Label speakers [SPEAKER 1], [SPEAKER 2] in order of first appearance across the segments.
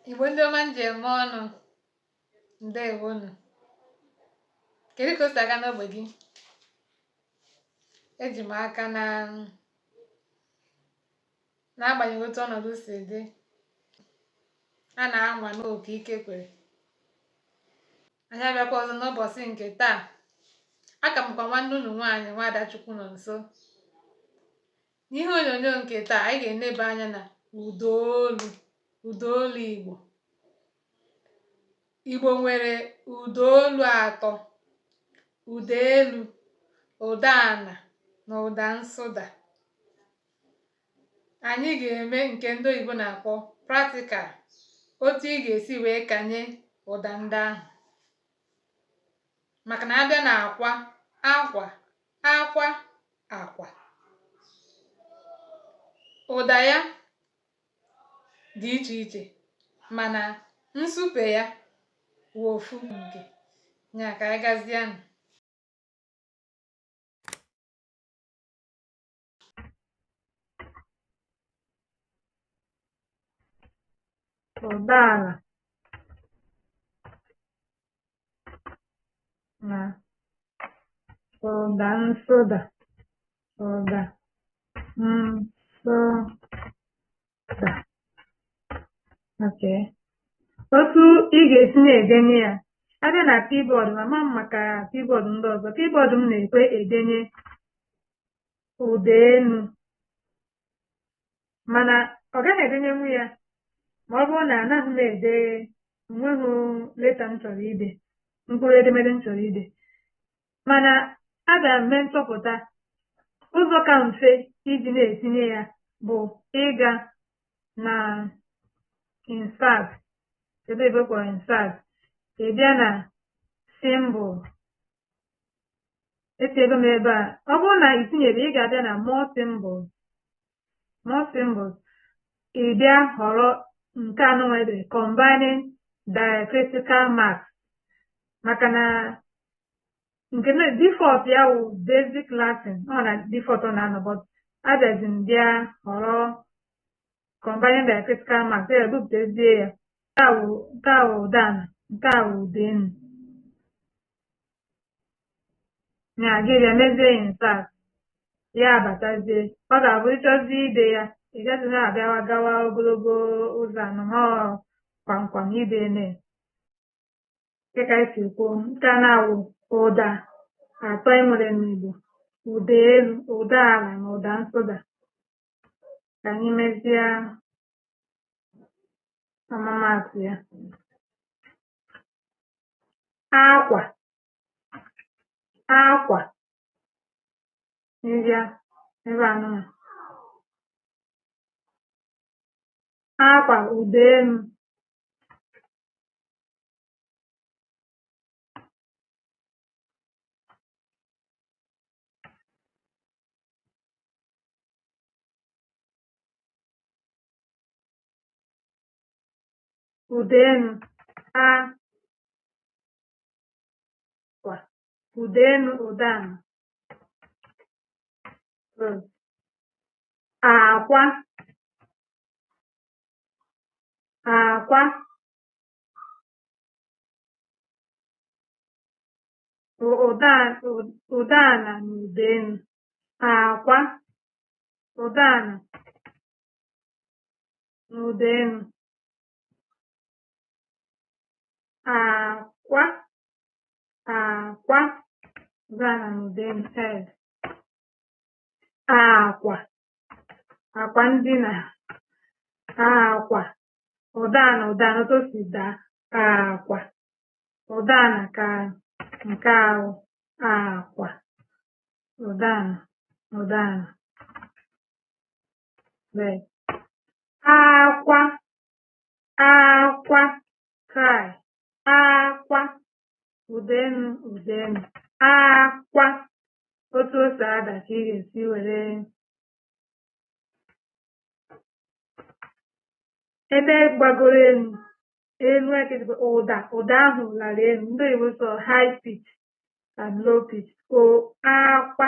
[SPEAKER 1] igbo ndị ọma m ji eme ọnụ ndewonụ kedu ka o si aga n'ogbe gị eji m aka na n'agbanyeghị otu ọnọdụ si dị a na-anwa n'oke ike kwere anyị abịakwa ọzọ n'ụbọsị nke taa aka m kwa nwanne unu nwaanyị nwaada Chukwunọnso n'ihe onyonyo nke taa anyị ga-eneba anya na ụdaolu ụdaolu igbo igbo nwere ụdaolu atọ ụda elu ụda ana na ụda nsụda anyị ga-eme nke ndị oyibo na-akpọ practical otu ị ga-esi wee kanye ụda ndị ahụ maka na a bịa na akwa akwa akwa akwa ụda ya dị iche iche mana nsupe ya wụ ofu nke ya ka anyị gazianụ ụda ala na ụda nsụda ụda nsụda Okay. otu ị ga-esi na-edenye ya a bịa na kibọọdụ m ama m maka kibọọdụ ndị ọzọ kibọọdụ m na-ekwe edenye ụda enu mana ọ gaghị edenyenwu ya ma ọ bụrụ na anaghị m ede o nweghị leta m chọrọ ide mkpụrụ edemede m chọrọ ide mana abịa m mee nchọpụta ụzọ ka mfe iji na-etinye ya bụ ịga na insert ebe ebe a kpọrọ insert ị bịa na symbol etinyego m ebe a ọ bụrụ na i tinyerọ ị ga-abịa na more symbols more symbols ị bịa họrọ nke a nụnwa e dere combining diacritical marks maka na nke na default ya wụ basic Latin nọ na default ọ na-anọ but abịazi m bịa họrọ combining diacritical marks ya ebupụtazie ya nke a wụ nke a wụ ụda ana nke a wụ ụda enu ya gị bịa mezie intak ya abatazie ọ ga-abụ ị chọzie ide ya ị gaghị na-abịawa gawa ogologo ụzọ anọ ma ọ kwamkwam ide eme dịka anyị si kwuo nke a na-awụ ụda atọ e nwere n'Igbo ụda elu ụda ala na ụda nsụda ka anyị mezie ọmụmaatụ ya akwa akwa nrịa nrịa anụmanụ akwa ụda elu ụda enu akwa ụda enu ụda ana akwa akwa ụda ana na ụda enu akwa ụda ana n'ụda elu akwa akwa ụda ana n'ụda elu bed akwa akwa ndina akwa ụda ana ụda ana otu o si daa akwa ụda ana ka nke ahụ akwa ụda ana ụda ana akwa akwa cry akwa ụda enu ụda enu akwa otu o si ada ka ị ga-esi were ebe gbagoro elu elu ekirikwe ụda ụda ahụ lara elu ndị oyibo sị high pitch and low pitch o akwa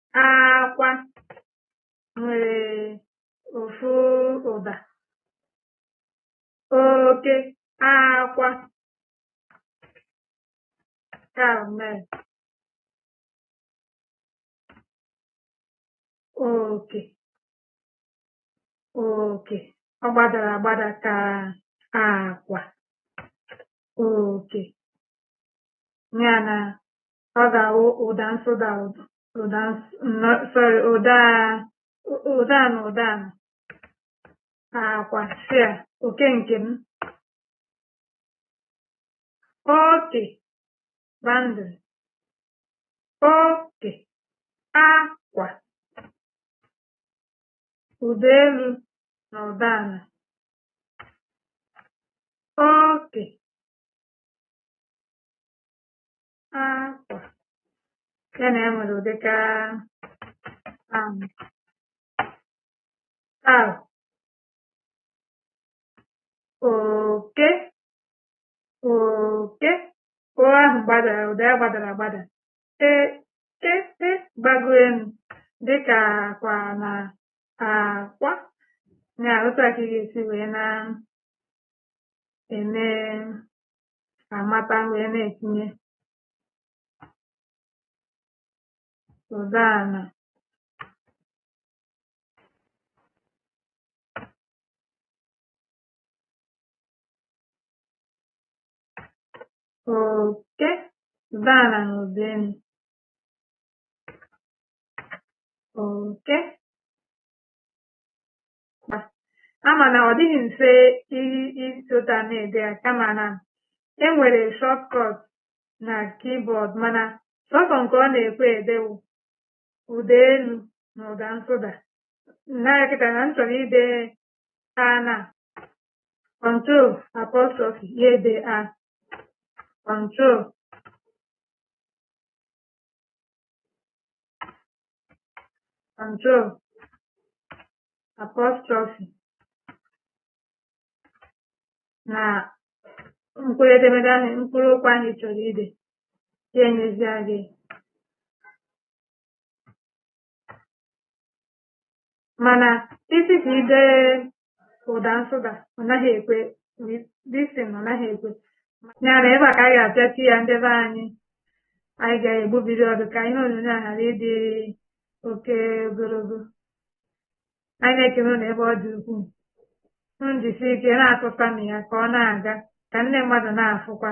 [SPEAKER 1] akwa nwere ofu ụda oke akwa male oke oke ọ gbadara agbada ka akwa oke ya na ọ ga-awụ ụda nsụda ụda ụda sorry ụda ụda na ụda ala akwa share oke nke m oke boundary oke akwa ụda elu na ụda ala oke akwa nke na enwere ụdịka um, taa oke oke o ahụ gbadara ụda ya gbadara agbada e e e gbago elu dịka akwa na akwa ya otu a ka ị ga-esi wee na e na-amata wee na-etinye ụda ala oke ụda ala na ụda elu oke ama na ọ dịghị mfe ịsota na-ede ya kama na e nwere shortcut na keyboard mana sọsọ nke ọ na-ekwe ede wụ ụda elu na ụda nsụda naya kịta na m chọrọ ide a na control apostrophe ya edee ya control control apostrophe na mkpụrụ edemede ahụ mkpụrụ okwu ahụ ị chọrọ ide ya enyezie gị mana ị sị ka i dee ụda nsụda ọ naghị ekwe disin ọ naghị ekwe ya na ebe a ka a ga-apịachi ya ndị be anyị anyị ga-egbubiri ọdụ ka ihe onyonyo a ghara ịdị oke ogologo anyị na-ekele unu ebe ọ dị ukwuu m jisi ike na-atụta m ya ka ọ na-aga ka nne mmadụ na-afụkwa